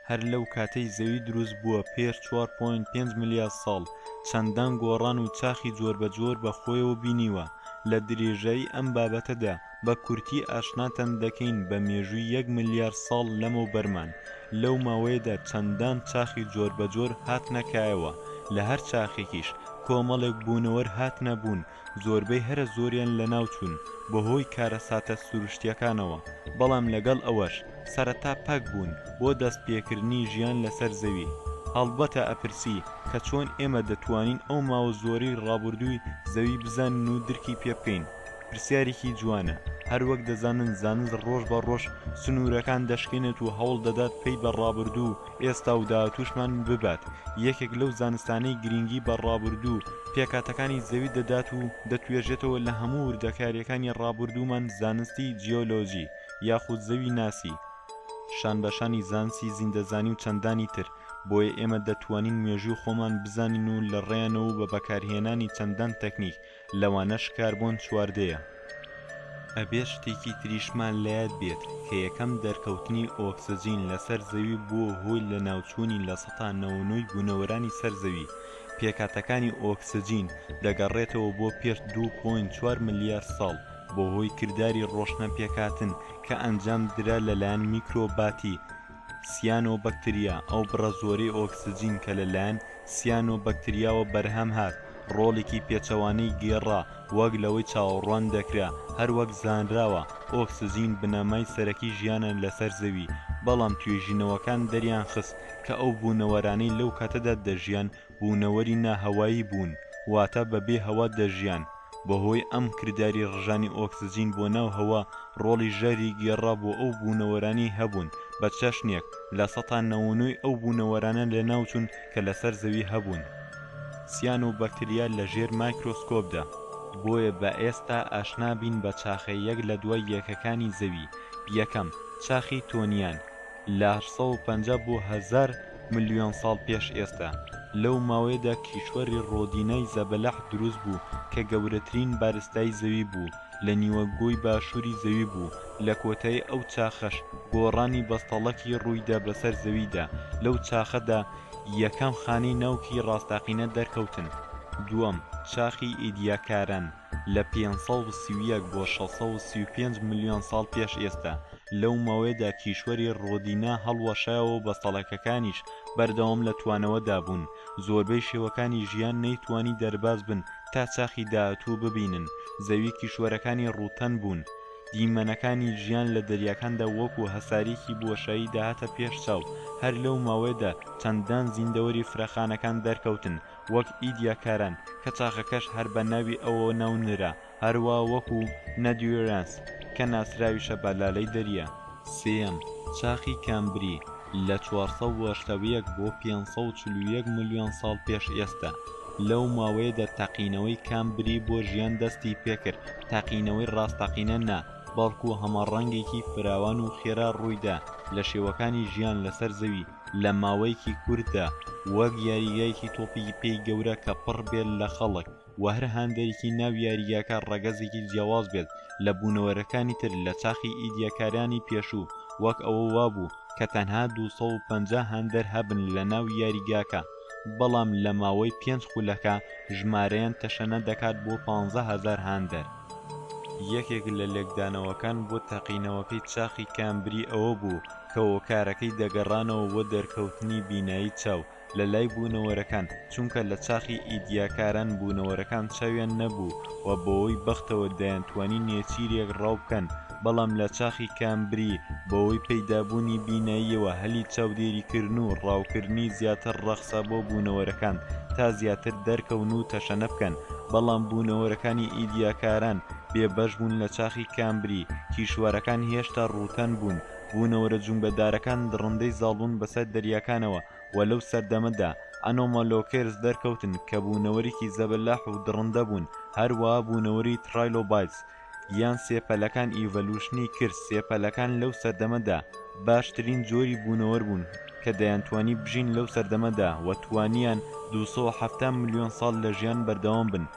هەر لەو کاتەی زەوی دروست بووە پێش 4.5 ملیار ساڵ چەندان گۆڕان و چاخی جۆر بە جۆر بە خۆیەوە بینیوە لە درێژایی ئەم بابەتەدا بە کورتی ئاشناتان دەکەین بە مێژووی یەک ملیار ساڵ لەمەو بەرمان، لەو ماوەیەدا چەندان چاخی جۆر بە جۆر هاتنە کایەوە، لە هەر چاخێکیش کۆمەڵێک بوونەوەر هاتنە بوون، زۆربەی هەرە زۆریان لە ناو چوون بە هۆی کارەساتە سروشتیەکانەوە، بەڵام لەگەڵ ئەوەش سەرەتا پەک بوون بۆ دەست پێکردنی ژیان لەسەر زەوی، هەڵبەتە ئەپرسی کە چۆن ئێمە دەتوانین ئەو ماوە زۆرەی ڕابوردووی زەوی بزانین و درکی پێ بکەین؟ پرسیارێکی جوانە، هەروەک دەزانن زانست ڕۆژ بە ڕۆژ سنوورەکان دەشکێنێت و هەوڵ دەدات پەی بە ڕابردوو و ئێستا و داهاتووشمان ببات، یەکێک لەو زانستانەی گرینگی بە ڕابردوو و پێکهاتەکانی زەوی دەدات و دەتوێژێتەوە لە هەموو وردەکارییەکانی ڕابردوومان زانستی جیۆلۆجی یاخود زەوی ناسی شانبەشانی زانسی زیندەزانی و چەندانی تر، بۆیە ئێمە دەتوانین مێژووی خۆمان بزانین و لەڕێیانەوە و بە بەکارهێنانی چەندان تەکنیک لەوانەش کاربۆن چواردەیە. ئەبێت شتێکی تریشمان لەیاد بێت کە یەکەم دەرکەوتنی ئۆکسجین لەسەر زەوی بووە هۆی لەناوچوونی لە سەتا نەوە نۆی بوونەوەرانی سەر زەوی، پێکهاتەکانی ئۆکسجین دەگەڕێتەوە بۆ پێش دوو پۆینت چوار ملیار ساڵ بەهۆی کرداری ڕۆشنە پێکهاتن کە ئەنجام درا لەلایەن میکرۆباتی سیانۆبەکتریا، ئەو بڕە زۆرەی ئۆکسجین کە لە لایەن سیانۆبەکتریاوە بەرهەم هات، ڕۆڵێکی پێچەوانەی گێڕا وەک لەوەی چاوەڕوان دەکرا، هەروەک زانراوە ئۆکسجین بنەمای سەرەکی ژیانە لەسەر زەوی، بەڵام توێژینەوەکان دەریانخست کە ئەو بوونەوەرانەی لەو کاتەدا دەژیان بوونەوەری نا هەوایی بوون واتە بە بێ هەوا دەژیان، بە هۆی ئەم کرداری ڕژانی ئۆکسجین بۆ ناو هەوا ڕۆڵی ژەهری گێڕا بۆ ئەو بوونەوەرانەی هەبوون بە چەشنێک لە سەتا نەوەنۆی ئەو بوونەوەرانە لە ناو چوون کە لە سەر زەوی هەبوون سیانۆ بەکتریا لە ژێر مایکرۆسکۆپدا. بۆیە با ئێستا ئاشنا بین بە چاخە یەک لە دوای یەکەکانی زەوی، یەکەم، چاخی تۆنیان، لە هەشت سەد و پەنجا بۆ هەزار، ملیۆن ساڵ پێش ئێستا، لەو ماوەیەدا کیشوەری ڕۆدینای زەبەلاح دروست بوو کە گەورەترین بارستای زەوی بوو، لە نیوەگۆی باشووری زەوی بوو، لە کۆتایی ئەو چاخەش گۆڕانی بەستەڵەکی ڕوویدا بەسەر زەویدا، لەو چاخەدا یەکەم خانەی ناوکی ڕاستەقینە دەرکەوتن، دووەم، چاخی ئیدیاکاران. لە پێنج سەد و سی و یەک بۆ شەش سەد و سی و پێنج ملیۆن ساڵ پێش ئێستا، لەو ماوەیەدا کیشوەری ڕۆدینا هەڵوەشایەوە و بەستەڵەکەکانیش بەردەوام لە توانەوەدا بوون، زۆربەی شێوەکانی ژیان نەیتوانی دەرباز بن تا چاخی داهاتوو ببینن، زەوی کیشوەرەکانی ڕووتەن بوون، دیمەنەکانی ژیان لە دەریاکاندا وەکو هەسارێکی بۆشایی دەهاتە پێش چاو، هەر لەو ماوەیەدا چەندان زیندەوەری فرەخانەکان دەرکەوتن، وەک ئیدیا کاران کە چاخەکەش هەر بە ناوی ئەوە ناونرا، هەروا وەکو، نەدیورەنس، کە ناسراویشە بە لالەی دەریا. سێیەم، چاخی کامبری، لە چوار سەد و هەشتا و یەک بۆ پێنج سەد و چل و یەک ملیۆن ساڵ پێش ئێستا، لەو ماوەیەدا تەقینەوەی کامبری بۆ ژیان دەستی پێکرد، تەقینەوەی ڕاستەقینە نا، بەڵکو هەمەڕەنگێکی فراوان و خێرا ڕوویدا لە شێوەکانی ژیان لەسەر زەوی، لە ماوەیەکی کورتدا وەک یاریگایەکی تۆپی پێی گەورە کە پڕ بێت لە خەڵک و هەر هاندەرێکی ناو یاریگاکە ڕەگەزێکی جیاواز بێت لە بوونەوەرەکانی تر لە چاخی ئیدیاکارانی پێشوو وەک ئەوە وابوو کە تەنها ٢٥٠ هاندەر هەبن لە ناو یاریگاکە بەڵام لە ماوەی پێنج خولەکە ژمارەیان تەشەنە دەکات بۆ پانزە هەزار هاندەر. یەکێک لە لێکدانەوەکان بۆ تەقینەوەکەی چاخی کامبری ئەوە بوو کە هۆکارەکەی دەگەڕانەوە بۆ دەرکەوتنی بینایی چاو لە لای بوونەوەرەکان، چونکە لە چاخی ئیدیاکاران بوونەوەرەکان چاویان نەبوو و بەوەی بەختەوە دەیانتوانی نێچیرێک ڕاو بکەن، بەڵام لە چاخی کامبری بەوەی پەیدابوونی بیناییەوە هەلی چاودێریکردن و ڕاوکردنی زیاتر ڕەخسا بۆ بوونەوەرەکان تا زیاتر دەرکەون و تەشەنە بکەن، بەڵام بوونەوەرەکانی ئیدیاکاران بێ بەش بوون لە چاخی کامبری کیشوەرەکان هێشتا ڕووتەن بوون بوونەوەرە جومگەدارەکان دڕندەی زاڵبوون بەسەر دەریاکانەوە وە لەو سەردەمەدا ئەنۆمالۆکێرس دەرکەوتن کە بوونەوەرێکی زەبەلاح و دڕندە بوون هەروەها بوونەوەری تڕایلۆبایتس یان سێپەلەکان ئیڤەلوشنی کرد سێپەلەکان لەو سەردەمەدا باشترین جۆری بوونەوەر بوون کە دەیانتوانی بژین لەو سەردەمەدا وە توانیان دوو سەد و حەفتا ملیۆن ساڵ لە ژیان بەردەوام بن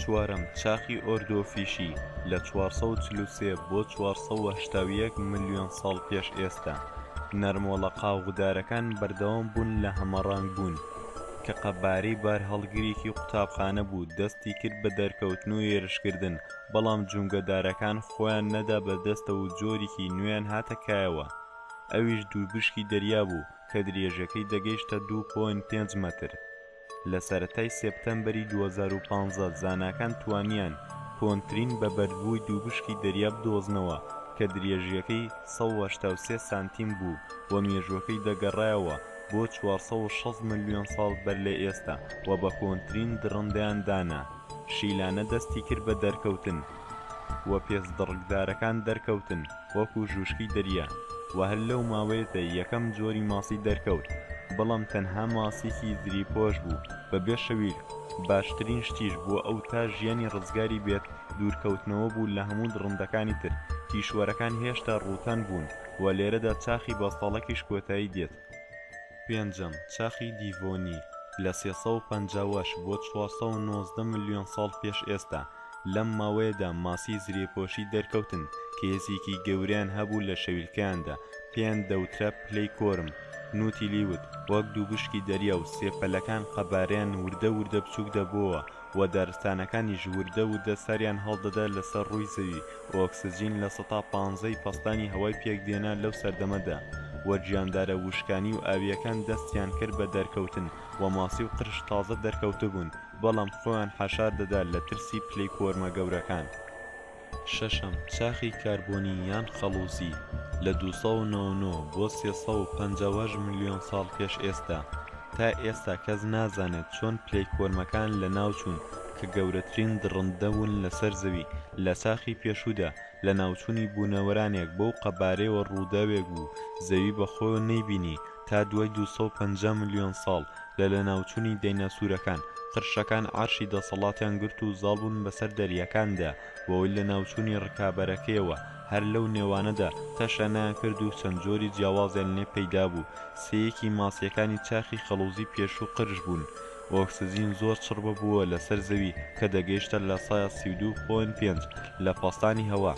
چوارەم چاخی ئۆردۆ فیشی لە چوار سەد و چل و سێ بۆ چوار سەد و هەشتا و یەک ملیۆن ساڵ پێش ئێستا نەرمۆڵە قاوغدارەکان بەردەوام بوون لە هەمەڕەنگ بوون کە قەبارەی بارهەڵگرێکی قوتابخانە بوو دەستی کرد بە دەرکەوتن و هێرشکردن بەڵام جومگەدارەکان خۆیان نەدا بە دەستەوە و جۆریکی نوێیان هاتە کایەوە ئەویش دووبشکی دەریا بوو کە درێژەکەی دەگەیشتە دوو پۆینت پێنج مەتر لە سەرەتای سێپتەمبەری دوو هەزار و پازدە زاناکان توانیان کۆنترین بە بەردبووی دووبشکی دەریا بدۆزنەوە کە درێژییەکەی سەد و هەشتا و سێ سانتیم بوو و مێژووەکەی دەگەڕایەوە بۆ چوار سەد و شەست ملیۆن ساڵ بەر لە ئێستا و بە کۆنترین دڕندەیان دانا شیلانە دەستی کرد بە دەرکەوتن و پێست دڕکدارەکان دەرکەوتن وەکو ژوشکی دەریا و هەر لەو ماوەیەدا یەکەم جۆری ماسی دەرکەوت بەڵام تەنها ماسیکی زری پۆش بوو بە بێ شەویلک باشترین شتیش بۆ ئەو تا ژیانی ڕزگاری بێت دوورکەوتنەوە بوو لە هەموو دڕندەکانی تر کیشوەرەکان هێشتا ڕووتەن بوون و لێرەدا چاخی بەستەڵەکیش کۆتایی دێت. پێنجەم، چاخی دیڤۆنی، لە سێ سەد و پەنجا وەش بۆ چوار سەد و نۆزدە ملیۆن ساڵ پێش ئێستا، لەم ماوەیەدا ماسی زرێپۆشی دەرکەوتن کە هێزێکی گەورەیان هەبوو لە شەویلکەیاندا، پێیان دەوترا پلەی کۆرم، نوتیلیوت، وەک دوو بشکی دەریا و سێ پەلەکان قەبارەیان وردە وردە بچووک دەبۆوە و دارستانەکانیش وردە وردە ساریان هەڵدەدا لەسەر ڕووی زەوی و ئۆکسجین لە سەتا پانزەی پەستانی هەوای پێکدێنا لەو سەردەمەدا و گیاندارە وشکانی و ئاوییەکان دەستیان کرد بە دەرکەوتن و ماسی و قرش تازە دەرکەوتبوون بەڵام خۆیان حەشار دەدا لە ترسی پلەی کۆرمە گەورەکان. شەشەم، چاخی کاربۆنی یان خەڵووزی، لە دوو سەد و نەوە و نۆ بۆ سێ سەد و پەنجا و هەشت ملیۆن ساڵ پێش ئێستا، تا ئێستا کەس نازانێت چۆن پلەیکۆرمەکان لەناوچوون کە گەورەترین دڕندە بوون لەسەر زەوی لە چاخی پێشوودا، لەناوچوونی بوونەوەرانێک بەو قەبارەیەوە ڕووداوێک بوو زەوی بەخۆیەوە نەیبینی تا دوای دوو سەد و پەنجا ملیۆن ساڵ لە لەناوچوونی دەیناسورەکان، قرشەکان عەرشی دەسەڵاتیان گرت و زاڵ بوون بەسەر دەریاکاندا، بەوەی لەناوچوونی ڕکابەرەکەیەوە، هەر لەو نێوانەدا تەشەنەیان کرد و چەند جۆری جیاوازیان لێ پەیدا بوو، سێیەکی ماسییەکانی چاخی خەڵووزی پێشوو قرش بوون. ئۆکسجین زۆر چڕ ببووە لەسەر زەوی کە دەگەیشتە لە سایە سی و دوو پۆینت پێنج لە پەستانی هەوا،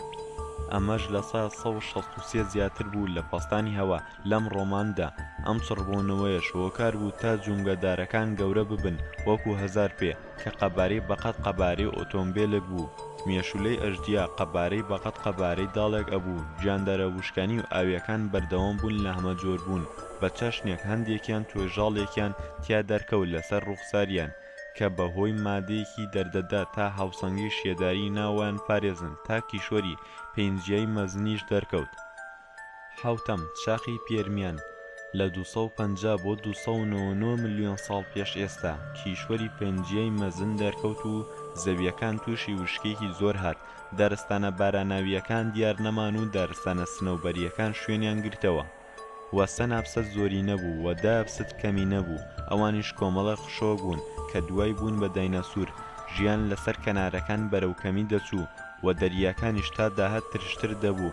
ئەمەش لە سایە سەد و شەست و سێ زیاتر بوو لە پەستانی هەوا، لەم ڕۆماندا ئەم چڕبوونەوەیەش هۆکار بوو تا جومگەدارەکان گەورە ببن وەکو هەزار پێ کە قەبارەی بەقەد قەبارەی ئۆتۆمبێلێک بوو، مێشولەی ئەژدیا قەبارەی بەقەد قەبارەی داڵێک ئەبوو، گیاندارە وشکانی و ئاوییەکان بەردەوام بوون لە هەمەجۆر بوون بە چەشنێک هەندێکیان توێژاڵێکیان تیا دەرکەوت لەسەر ڕووخساریان کە بە هۆی مادەیەکی دەردەدا تا هاوسەنگی شێداری ناوەیان پارێزن تا کیشوەری پێنجیای مەزنیش دەرکەوت حەوتەم، چاخی پێرمیان، لە دوو سەد و پەنجا بۆ دوو سەد و نەوە و نۆ ملیۆن ساڵ پێش ئێستا، کیشوەری پەنجیای مەزن دەرکەوت و زەوییەکان تووشی وشکییەکی زۆر هات، دارستانە باراناوییەکان دیار نەمان و دارستانە سنەوبەرییەکان شوێنیان گرتەوە و سەنابسەت زۆرینە بوو و دایەبست کەمینە بوو، ئەوانیش کۆمەڵێک قشۆ بوون کە دوای بوون بە دایناسور ژیان لەسەر کەنارەکان بەرەو کەمی دەچوو و دەریاکانیش تا داهات ترشتر دەبوو.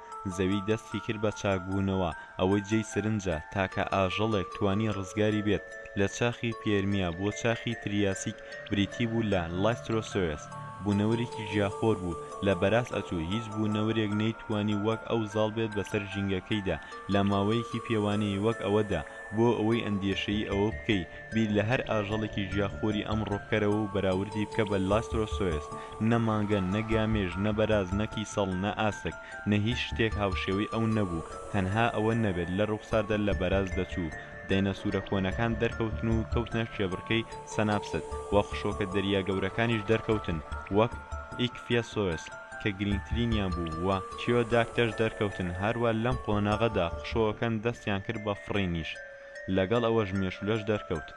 زەوی دەستی کرد بە چاکبوونەوە، ئەوەی جێی سرنجە تاکە ئاژەڵێک توانی ڕزگاری بێت لە چاخی پێرمیا بۆ چاخی تریاسیک بریتی بوو لە لایسترۆسۆیەس، بوونەوەرێکی ژیاخۆر بوو لە بەراز ئەچوو هیچ بوونەوەرێک نەیتوانی وەک ئەو زاڵ بێت بەسەر ژینگەکەیدا لە ماوەیەکی پێوانەیی وەک ئەوەدا بۆ ئەوەی ئەندێشەیی ئەوە بکەی بیر لە هەر ئاژەڵێکی ژیاخۆری ئەم ڕۆکەرەوە و بەراوردی بکە بە لاسترۆسۆیەس، نە مانگە، نە گامێش، نە بەراز، نە کیسەڵ، نە ئاسک، نە هیچ شتێک هاوشێوەی ئەو نەبوو، تەنها ئەوە نەبێت لە ڕووخساردا لە بەراز دەچوو، دەینەسورە کۆنەکان دەرکەوتن و کەوتنە کێبڕکێی سەناپست، وە خشۆکە دەریا گەورەکانیش دەرکەوتن وەک، ئیکفیەسۆیەس، کە گرینگترینیان بوو، وە، تیۆداکتەس، دەرکەوتن، هەروا لەم قۆناغەدا خشۆکەکان دەستیان کرد بە فڕینیش. لەگەڵ ئەوەش مێشولەش دەرکەوت.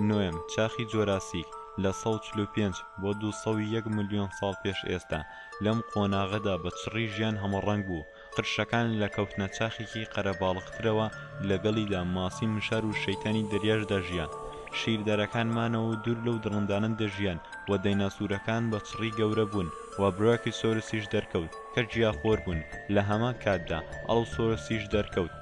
نۆیەم، چاخی جۆراسیک، لە سەد و چل و پێنج بۆ دوو سەد و یەک ملیۆن ساڵ پێش ئێستا، لەم قۆناغەدا بە چڕی ژیان هەمەڕەنگ بوو، قرشەکان لە کەوتنە چاخێکی قەرەباڵغترەوە، لەگەڵیدا ماسی مشار و شەیتانی دەریاش دەژیان. شیردەرەکان مانەوە و دوور لەو دڕندانە دەژیان و دەیناسورەکان بە چڕی گەورە بوون و برایۆکیسۆرسیش دەرکەوت کە گیاخۆر بوون، لە هەمان کاتدا ئەڵڵوسۆرسیش دەرکەوت.